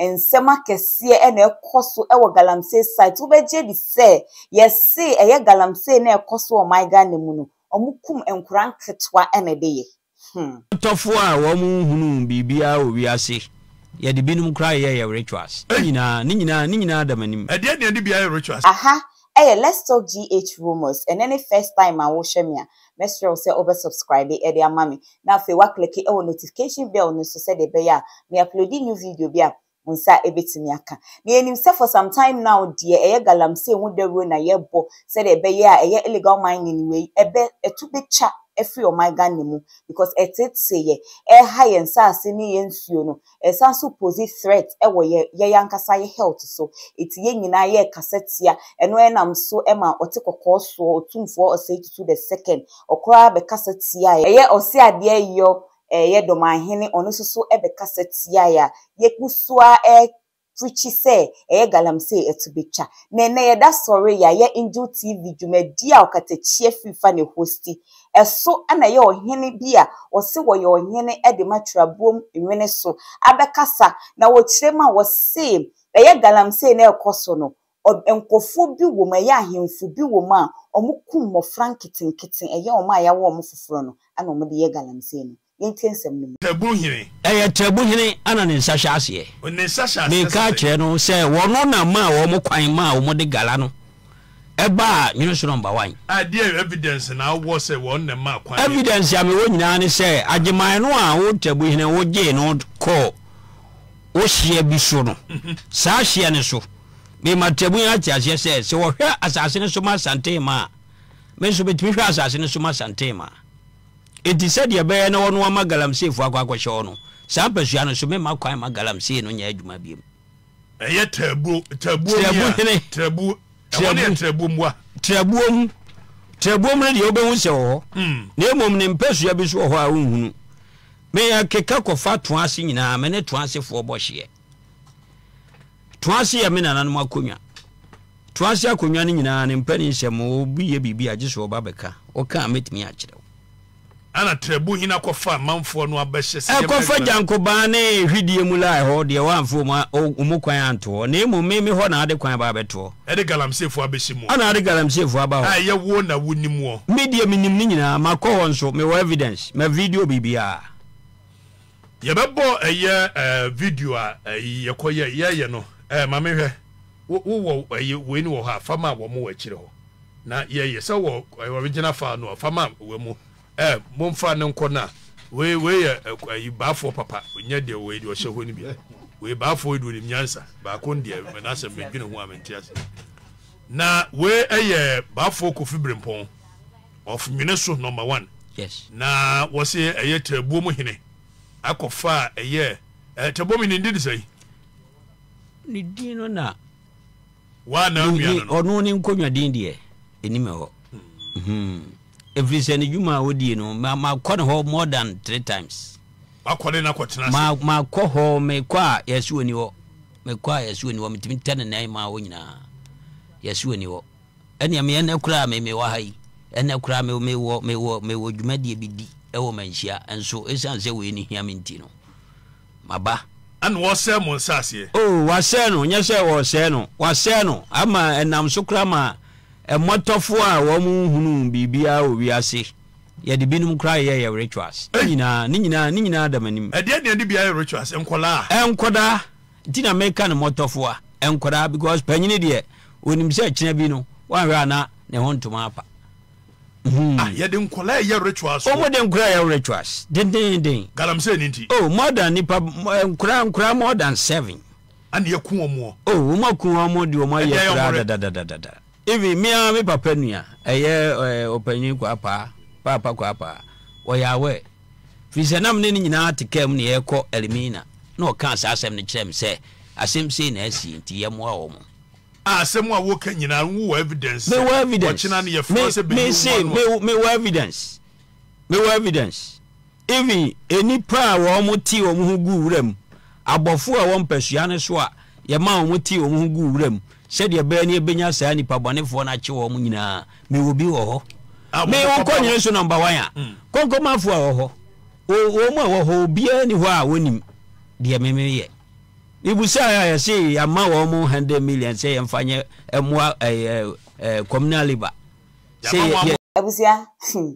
Nsɛm akɛseɛ na ɛkɔ so wɔ galamsey site wobɛgye adi sɛ yɛse ɛyɛ galamsey na ɛkɔ so wɔ ɔman Ghana mu no ɔmo kum nkora nketewa na ɛde yɛ hmm. Ɔtɔfoɔ a wɔn nhunuu biribiara wɔ wiase yɛde binom koraa yɛ yɛ rituals ne nyinaa ne nyinaa ne nyinaa da m'anim. Ɛdeɛn na ɛne bi ayɛ rituals. Aha Ɛyɛ let's talk GH Rumours ɛnɛ ne first time a wohwɛ me a, mɛsrɛ wo sɛ wobɛ subscribe de ama me na afei woakleke wɔ notification bell no nso sɛdeɛ ɛbɛyɛ a me uploadi new video bi a wo nsa bɛtumi aka. Na yɛnim sɛ for some time now deɛ ɛyɛ galamsey ho dawuro na yɛbɔ sɛdeɛ ɛbɛyɛ a ɛyɛ illegal mining wei ɛbɛ ɛto bɛtwa afiri ɔman Ghana mu because ɛteetee yɛ, ɛha yɛn nsaase ne yɛn nsuo no Ɛsan so pose threat wɔ yɛ yɛn ankasa yɛ health so. Eti yɛn nyinaa yɛkasa tia ɛno ɛna nam so ma ɔte kɔkɔɔ soɔ otumfoɔ ɔsɛe tutu the second ɔkoraa bɛkasa tia yɛ. Ɛyɛ ɔse adeɛ yɔ yɛ dɔmahene ɔno nso so bɛkasa tia yɛ a yɛgu so ara preachi sɛ ɛyɛ galamsey ɛto bɛtwa. Na ɛnɛ yɛda sɔre yɛayɛ Angel TV dwumadi a ɔkatakyie firi fa ne hosti. Ɛso na ɛyɛ ɔhene bi a wɔse wɔyɛ ɔhene de ma Twerɛboom Nwene so abɛkasa na wɔkyerɛ mu a wɔse ɛyɛ galamsey na ɛrekɔ so no Ɔb nkorɔfoɔ bi wɔ mu, ɛyɛ ahemfo bi wɔ mu a, wɔkum mmɔfra nketenkete, ɛyɛ wɔn a yɛawo wɔn foforɔ no na wɔde yɛ galamsey no. Yɛntie nsɛm no mu. Tɛbu hene. Ɛyɛ Tɛbu hene na ne nsa hyɛ aseɛ. Ne nsa hyɛ aseɛ sɛ. Meka kyerɛ no sɛ wɔno na maa wɔn kwan maa wɔde Gala no baa Nwonoso Number One. Ɛdeɛn evidence na wowɔ sɛ wɔn na ɛmaa kwan yɛ. Evidence a mewɔ nyinaa ne sɛ Agyeman no a wo Tɛbu hene wogyee no kɔɔ. Wɔ hyia bi so no, saa hyia no so, mede m'atabun ate aseɛ sɛ, sɛ wɔhwɛ asase no so ma Santehema a, me nso mɛtumi hwɛ asase no so ma Santehema. Enti sɛdeɛ ɛbɛyɛ na wɔno ama galamseefoɔ akɔ akɔhyɛ hɔ no, saa mpasua no so, meremma kwan mma galamsee no nyɛ adwuma biom. Ɛyɛ tɛɛbuo, tɛɛbuo ni a, tɛɛbuo, ɛhɔ no yɛ tɛɛbuo mu a. Tɛɛbuo mu, tɛɛbuo mu no deɛ wobɛhu sɛ wɔ hɔ, na mmom ne mpasua bi nso wɔ hɔ a wonhunu. Me yɛ keka kɔfa toase nyinaa me ne toase foɔ bɔ hyeɛ toase yɛ me nananom akonwa toase akonwa no nyinaa ne mpɛ ne nsɛm mo obi yɛ biribi a gye sɛ ɔba bɛka ɔka a mɛtumi akyerɛ wo. Ana trɛbu hena kɔfa amanfoɔ no abɛhyɛ sɛ yɛmma adwuma no. Ɛkɔfa gyankobaa ne hwideɛ mu la ɛhɔ deɛ wɔamfa wɔn kwan anto hɔ na mmom me me hɔ na ade kwan ba abɛtoɔ. Ɛde galamseefoɔ abɛhyɛ mu. Ana ade galamseefoɔ aba hɔ. A ɛyɛ wo na wo nim wɔ. Me deɛ me nim ne nyinaa ma kɔ hɔ nso me wɔ evidence ma video biribiara. Yɛ bɛ bɔ ɛyɛ ɛɛ video a ɛyi yɛ kɔ yɛ yɛ yɛ no ɛɛ ma me hwɛ wo wo wɔ ɛyi wei ni wɔ hɔ a fa ma wɔn wɔ akyire hɔ na yɛ yɛ sɛ wɔ original file no a fa ma wɔ mu. Eh momfa no nkɔ na wei wei yɛ ɛk ayi baafoɔ papa nyɛ deɛ wei deɛ ɔhyɛ hɔ no bi wei baafoɔ yi deɛ onim nyansa baako no deɛ mɛ n'asɛm medwene ho a mente ase na wei ɛyɛ baafoɔ kofi berempɔn of nwene so number one yes na wɔse ɛyɛ tirabuo mu hene akɔfa a ɛyɛ ɛɛ tirabuo mu hene ne din de sɛn ne din no na Woanna onua no no. Ɔno ne nkonnwa din deɛ, ɛnim ɛhɔ. Ɛfiri sɛ ne dwuma a ɔdie no, makɔ ne hɔ more than three times. Wakɔ ne na kɔtena ase. Makɔ hɔ, mekɔ a yɛasi wɔ ni hɔ. Mekɔ a yɛasi wɔ ni hɔ, metumi tɛ ne nan maa hɔ nyinaa. Yɛasi wɔ ni hɔ. Ɛnneɛ me ɛnɛ koraa me mewɔ ha yi, ɛnɛ koraa me mewɔ mewɔ mewɔ dwumadie bi di ɛwɔ Manhyia nso ɛsiane sɛ wei no hia me nti no. Maba. Ɛna wɔresɛe mo nsaseɛ. O, wɔasɛe no, nyɛ sɛ wɔresɛe no, wɔasɛe no, ama ɛnam so koraa ma mmɔtɔfoɔ a wɔnhunuu biribiara wɔ wiase, yɛde binom koraa yɛɛ yɛn rituals. Ne nyinaa, ne nyinaa, ne nyinaa da m'anim. Ɛdeɛn na yɛde bi ayɛ rituals? Nkwadaa? Nkwadaa, nti na meka no mmɔtɔfoɔ, nkwadaa, because panyini deɛ, ɔnim sɛ kyena bi no, woanhwɛ a na ne ho ntoma apa. Hmm. Ah, yɛde nkɔla ɛyɛ rituals. Wɔn de nkɔla ɛyɛ rituals dendeenden. Galamsey ni nti. Oh, more than nipa eh, nkɔla nkɔla more than seven. Ani ɛku wɔn wɔ. Oh, wɔn aku wɔn de wɔn ayɛ kura dadadadada. Even mi ara mi papa nua ɛyɛ ɛɛ ɔpanyin kɔ apa paapa kɔ apa ɔyɛ awɛ firisɛ nam ne ne nyinaa te kɛm ne yɛ kɔ ɛlimina na ɔka saa asɛm no kyerɛ mi sɛ asɛm sei na ɛsi nti yɛ mmoa wɔn. Ah asɛm a woka nyinaa wo wɔ evidence sɛ mewɔ evidence ɔkyena no yɛfrɛ me sɛ bɛyi mese wo me ano mewɔ evidence mewɔ evidence even nnipa a wɔn mo te wɔn ho gu wura mu abɔfo a wɔn mpasua no so a yɛma wɔn mo te wɔn ho gu wura mu sɛdeɛ bɛyɛ ne yɛbɛnya saa nnipa bɔnefoɔ no akye wɔn nyinaa mewɔ bi wɔ hɔ a me wɔn wokɔ papa nyere so number one a kɔnkɔmafoɔ a wɔ hɔ o- wɔn mu a wɔ hɔ obiara ni hɔ a wɔnim deɛ memeyɛ Mibusae a, yɛse yɛama wɔn 100 million sɛ yɛmfa nyɛ mmoa communal labour. Abusua, hmm,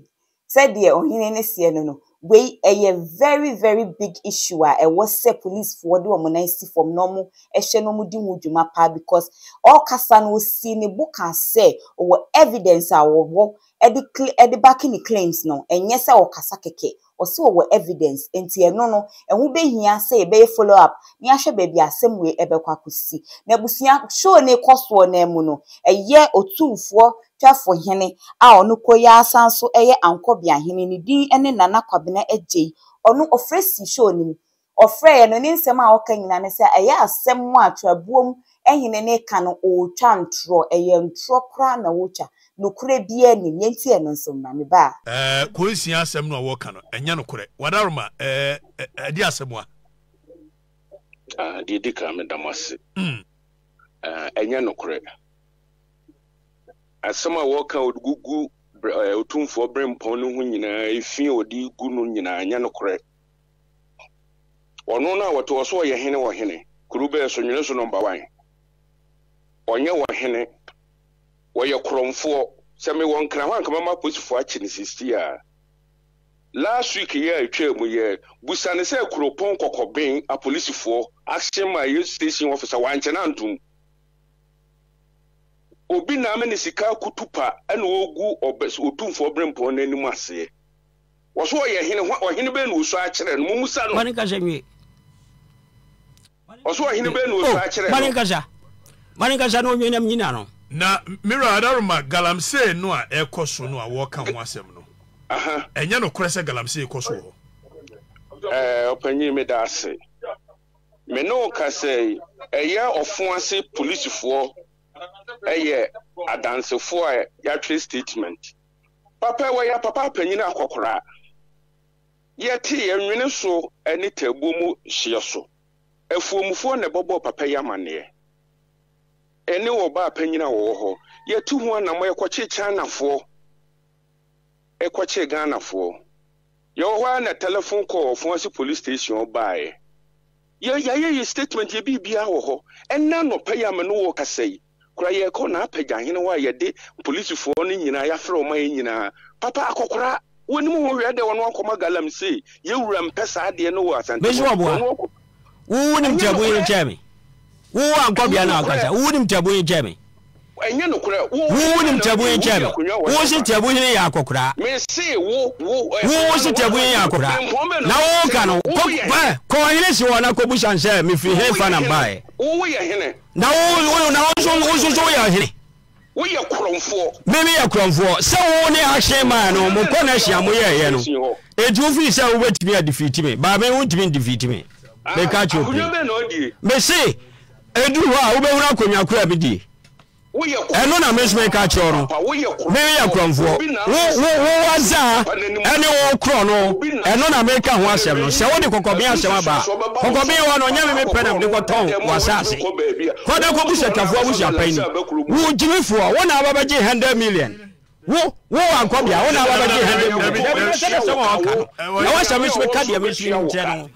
sɛdeɛ Ohene no seɛ no no, wei ɛyɛ very very big issue a ɛwɔ sɛ police foɔ de wɔn nan si fam na wɔn hwɛ na wɔn di ho dwuma paa because ɔɔkasa no ɔsii ne bo kaa sɛ ɔwɔ evidence a ɔwɔ ɛde ɛde backe ne claims no, ɛnyɛ sɛ ɔɔkasa kɛkɛ, ɔse ɔwɔ evidence enti ɛno no ɛho bɛhia sɛ yɛbɛyɛ follow up na yɛahwɛ baabi a asɛm wei ɛbɛkɔ akɔsi. Na abusua show no rekɔ soɔ no ara mu no, ɛyɛ Otumfoɔ Twɛfo Hene a ɔno koro yi ara san nso yɛ Ankɔbeahene, ne din ne Nana Kwabena Agyei, ɔno ɔfrɛ sii show no mu Ɔfrɛeɛ no, ne nsɛm a ɔka nyinaa ne sɛ ɛyɛ asɛm a Twabuom hene no reka no, ɔretwa ntorɔ. Ɛyɛ ntorɔ koraa na ɔretwa. Nokorɛ biara nnim. Yɛntie ɛno nso mmra. Me ba a. Ɛɛ Kwansia asɛm no a wɔreka no, ɛnyɛ nokorɛ. Wadaroma, ɛɛ ɛde asɛm a. Ah, deɛ ɛdi kan, meda mo ase. Mm. Ah, ɛnyɛ nokorɛ. Asɛm a wɔreka a wɔde gugu Ɔtumfoɔ Berempɔn no ho nyinaa, efi a wɔde regu no nyinaa, ɛnyɛ nokorɛ. Ɔno na wɔte ɔso ɔyɛ hene wɔ hene kuro bɛɛ so nwene so nɔmba wan ɔnyɛ wɔ hene wɔyɛ korɔmfoɔ sɛ me wɔ nkran hɔ anka mɛma aposifoɔ akye no sisii a last week yɛ a ɛtwaa mu yɛ busa ne sɛ kuropɔn kɔkɔben apolisifoɔ action ma yɛ station officer wankyɛ no antom obi na ame ne sika akutu pa ɛna ɔgu ɔtumfoɔ brempɔn no anim aseɛ. Wɔso ɔyɛ hene, hwan, ɔhene bɛn na wɔsua akyerɛ no? Mommusa no. Mane nkasa nwie. Wɔso ɔhene bɛn na wɔsua oh, akyerɛ no? Mane nkasa. Mane nkasa na ɔnwie nam nyina no. Na Mira Adaroma galamsey no a ɛkɔ so no a wɔka ho asɛm no, ɛnyɛ nokorɛ sɛ galamsey kɔ so wɔ hɔ? Ɛɛ, ɔpanyin meda ase. Me ne wo ka sɛ ɛyɛ ɔfo ase polisifoɔ ɛyɛ adansefoɔ a yɛatwerɛ statement. Papa wɔ yɛn papa panyin akɔkoraa. Yɛte yɛn nwene so ne taabuo mu hyeɛ so. Afuomfoɔ na ɛbɔbɔɔ papa yi amaneɛ. Ɛne ɔbaa panyin a wɔwɔ hɔ. Yɛtu ho anamɔ, yɛkɔkye Chinafoɔ, ɛkɔkye Ghanafoɔ. Yɛwɔ hɔ ara na tɛlɛfon kɔɔ Ɔfoase Police Station hɔ baeɛ. Yɛ, yɛayɛ yɛn statement, yɛ biribiara wɔ hɔ. Ɛnnɛ anɔpa yi a me ne wo rekasa yi, Kora yɛkɔ n'apɛgya ahene hɔ a yɛde polisifɔɔ no nyinaa yɛafrɛ wɔn ma yɛn nyinaa papa akɔkora wɔnim ho hwɛ dɛ wɔn akɔma galamsey yɛwura mpɛ saa adeɛ no wɔ asante hɔ mesoa boa wo wo nim tiabu yere kyɛɛ me wo wo ankɔ bia na wakasa wo wo nim tiabu yere kyɛɛ me ɛnyɛ nokorɛ wo wo nim tiabu yere kyɛɛ me wo wo se tiabu hene yɛ akɔkora mese wo wo wo wo se tiabu hene yɛ akɔkora na wo ka no kɔ kɔ hene si hɔ na kɔ busa nsɛ mefiri hene fa na mbaɛ wo wo yɛ hene Na wo, wo, na wo nso, wo nso so woyɛ ɔhene. Woyɛ korɔmfoɔ. Me meyɛ korɔmfoɔ. Sɛ wo ne ahye maa no, mo kɔ na hyia mo yɛɛyɛ no. Enti wofii sɛ wobɛtumi adifiiti me, baa me, wontumi ndifiiti me. Meka kyerɛ obi. Mese, ɛduru hɔ a, wobɛhunu akonnwa koro a medie. Ɛno na me nso meka kyerɛ no. Me meyɛ korɔmfoɔ. Wo, wo, wo wɔ zaa. ɛne wo korɔ no, ɛno na mereka ho asɛm no. Sɛ wode kɔkɔben asɛm aba a, kɔkɔben hɔ no, nyɛ me mepɛ na mede kɔtɔn w'asaase. Kɔ na kɔbu sɛtwafoɔ abusuapɛn ni. Wo gyimifoɔ, wo na aba bɛgye hundred million. Wo, wo wankɔ bea, wo na aba bɛgye hundred million. Dabi, na sɛ ne sɛm a ɔka no, na w'asɛm nso bɛka deɛ me nso menkyerɛ no ho.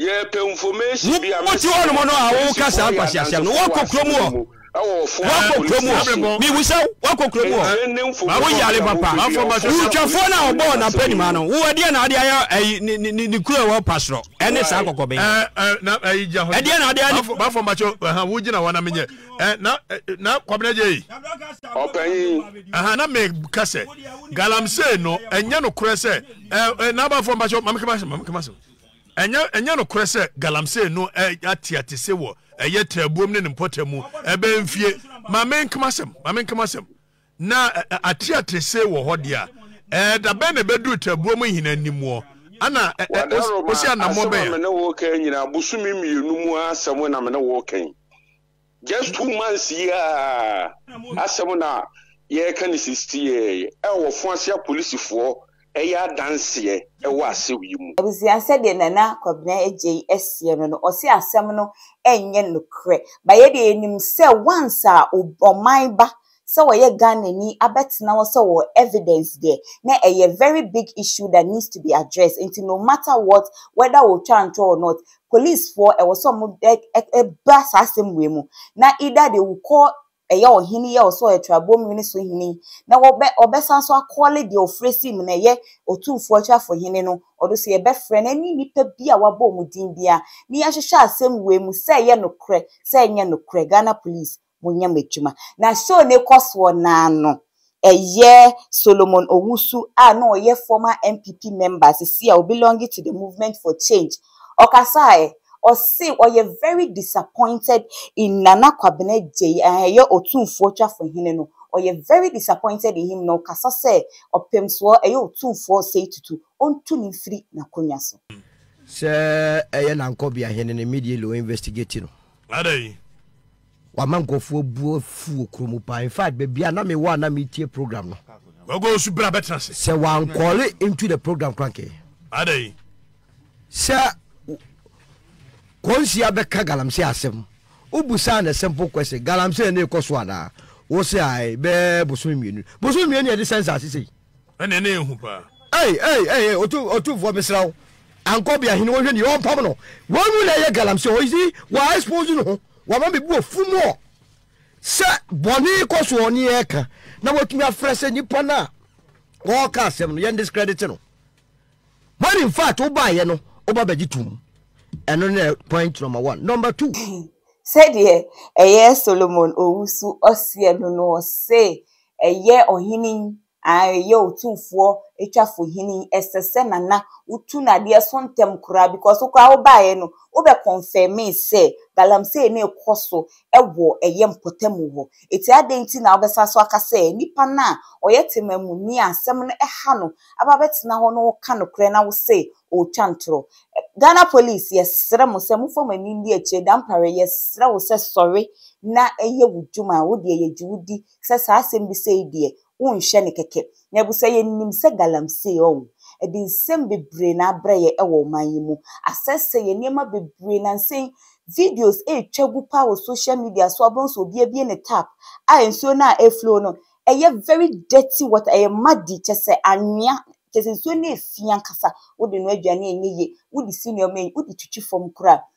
Wotu hɔnom no a woka saa nkwaseasɛm no, woakɔ kurom hɔ. Woakɔ kurom hɔ. Mibu sɛ woakɔ kurom hɔ. Woyare papa. Wutwafoɔ no a ɔbɔɔ n'apɛnima no, wo ɛdeɛ na ade ayɛ ayi ne ne ne kuro ɛwɔ pasorɔ ɛne saa kɔkɔbɛn. Ɛdeɛ na ade ayɛ. Bafɔ mbakyɛ ɛhɛn wo gyina hɔ na menyɛ ɛ na na kwabena gye yi. Ɔpanyin. Ɛhɛn na me kasɛ galamsey no ɛnyɛ no korɛ sɛ ɛ na bafɔ mbakyɛ mamekema mamekema so. Ɛnyɛ ɛnyɛ nokorɛ sɛ galamsey no ateatese wɔ ɛyɛ Taabuom ne ne mpɔtam mu ɛbɛyɛ mfie ma menkama asɛm ma menkama asɛm na ateatese wɔ hɔ deɛ a ɛɛ da bɛn na ɛbɛduru Taabuom nhina animuɔ ana osi anamɔ bɛn a. Asɛm a me ne wo reka yi nyinaa bosome mmienu mu asɛm na me ne wo reka yi. Just two months yi ara asɛm na yɛreka ne sisi yi, a wɔfo ase apolisifoɔ reyɛ adanseɛ wɔ asɛm yi mu. Abusua sɛdeɛ Nana Kwabena Agyei seɛ no no, ɔse asɛm no nyɛ nokorɛ, but yɛdeɛ yɛnim sɛ once a ɔman ba sɛ wɔyɛ Ghanani abɛtena hɔ sɛ ɔwɔ evidence deɛ na ɛyɛ very big issue that needs to be addressed nti no matter what whether wɔtwa ntorɔ or not police foɔ ɛwɔ sɛ ɔmo ɛ ɛ ɛba saa asɛm wei mu na either they will call ɛyɛ ɔhene yɛ ɔsɛ ɔyɛ trabom hene so hene na wɔbɛ ɔbɛsan so akɔle deɛ ɔfrɛ si mu na ɛyɛ otumfoɔ atwafo hene no ɔdo so yɛbɛfrɛ no ɛne nipa bi a wabɔ ɔmo din bia ne yɛnhwehwɛ asɛm wei mu sɛ ɛyɛ nokorɛ sɛ ɛnyɛ nokorɛ Ghana police Monyɛ mo adwuma. Na show no rekɔ soɔ no ara no, ɛyɛ Solomon Owusu a na ɔyɛ former NPP member, seesei a ɔbelonge to the Movement for Change, ɔkasaeɛ. Ɔse ɔyɛ very disappointed in Nana Kwabena Agyei a ɛyɛ Otumfoɔ Twafohene no, ɔyɛ very disappointed in him na ɔkasa sɛ Ɔpemsoɔ, ɛyɛ Otumfoɔ Osei Tutu, ɔntu no mfiri n'akonnwa so. Sɛ ɛyɛ Nankobiahene no, immediately ɔinvestigate no. Adɛn? Wama nkurɔfoɔ abu afu wɔ kuro mu paa. In fact, baabi a na mewɔ a na metie program no. Wago nso bra bɛtena ase. Sɛ wankɔle into the program kora nkɛyɛ. Adɛn? Sɛ kɔnsi abɛka galamsey asɛm wobusaa no simple question galamsey na ɛkɔ so anaa? Wo se ae bɛɛ bosome mmienu. Bosome mmienu yɛde sɛ nsaase sei. ɛne ne ehu paa. Ei ei ei otu otufoɔ mesrɛ wo ankɔ bia hene wɔhwɛ ni ɔmpam no wɔn mu na ɛyɛ galamsey ɔ isi wɔ expose no ho wama me bu ofu mu ɔ sɛ bɔne kɔ soɔ ne ɛka na watumi afrɛ sɛ nipa no a ɔka asɛm no yɛn discredit no when in fact wobaeɛ no woba bɛgye tom ɛno ne point number one number two sɛdeɛ ɛyɛ solomon owusu ɔseɛ no no ɔse Ɛyɛ ɔhene yi, aane, ɛyɛ otumfoɔ atwafo hene yi, ɛsɛ sɛ Nana wotu no adeɛ so ntɛm koraa because wo koraa wo baeɛ no, wo bɛ confirmee sɛ galamsey no rekɔ so wɔ ɛyɛ mpɔtamu hɔ, eti adɛn nti na wo bɛ san so aka sɛ nipa no a ɔyɛ temamuni a asɛm no ha no aba bɛ tena hɔ na ɔreka nokorɛ na wo se ɔretwa ntorɔ? Ghana police yɛ srɛ mo sɛ mo fa mo ani ndi akyire, Dampare yɛ srɛ wo sɛ sɔre na yɛ wo dwuma, wo deɛ yɛ gye wo di, sɛ saa asɛm bi sei deɛ wonhwɛ no kɛkɛ. Na ɛbisa yɛ nim sɛ galamsey ɔɔ ɛde nsɛm bebree na abrɛ yɛ ɛwɔ ɔman yi mu. Asɛsɛ yɛ nneɛma bebree na nsɛ yi videos ɛretwa gu paa wɔ social media so abɛhu sɛ obi abie ne tap a nsuo no a ɛflow no ɛyɛ very dirty water ɛyɛ muddy kyɛ sɛ anwea kyɛ sɛ nsuo no ɛfi ankasa wode noa aduane a ɛnyɛ yie wode si nneɛma a wode twitwi fam koraa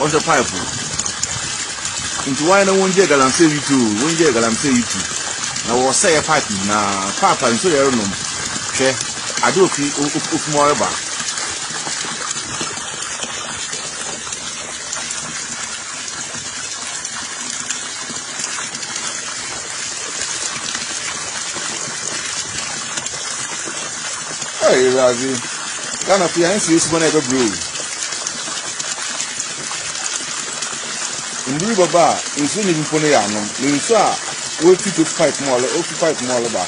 wɔhwɛ pipe no nti wɔn na wɔn gye galamsey yi tu wɔn gye galamsey yi tu na wɔsɛɛ pipe nyinaa pipe a nsuo yɛrɛ nom hwɛ ade ofi ofi mu ɔreba ɛyɛ ɛwɛ adi. Ghana fo yɛ ansi yɛ suban a ɛbɛ brɛ oo. Nduru bɛ ba a nsuo nyɛ bi mpo no yɛ anom. Na nsuo a wo fi to pipe mu ɔlɛ, wo fi pipe mu ɔlɛ ba.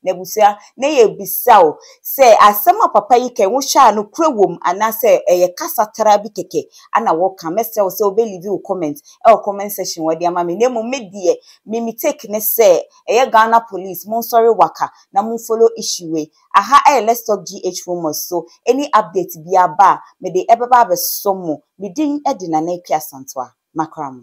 N'abusua, na yɛ bisa o sɛ asɛm a papa yi kɛn wo hwɛ a no korɛ wom anaa sɛ ɛyɛ kasa traa bi kɛkɛ ana wo ka, mɛ srɛ wo sɛ wo bɛ livi wo comment ɛwɔ comment section wɔde ama me na mmom me deɛ me me take ne sɛ ɛyɛ Ghana police monsɔre waka na mo follow issue wei aha ɛyɛ let's talk GH rumours so any update biara ba a mede ɛbɛba abɛsɔ mo me din de Nana Akua Asantewa makra mo.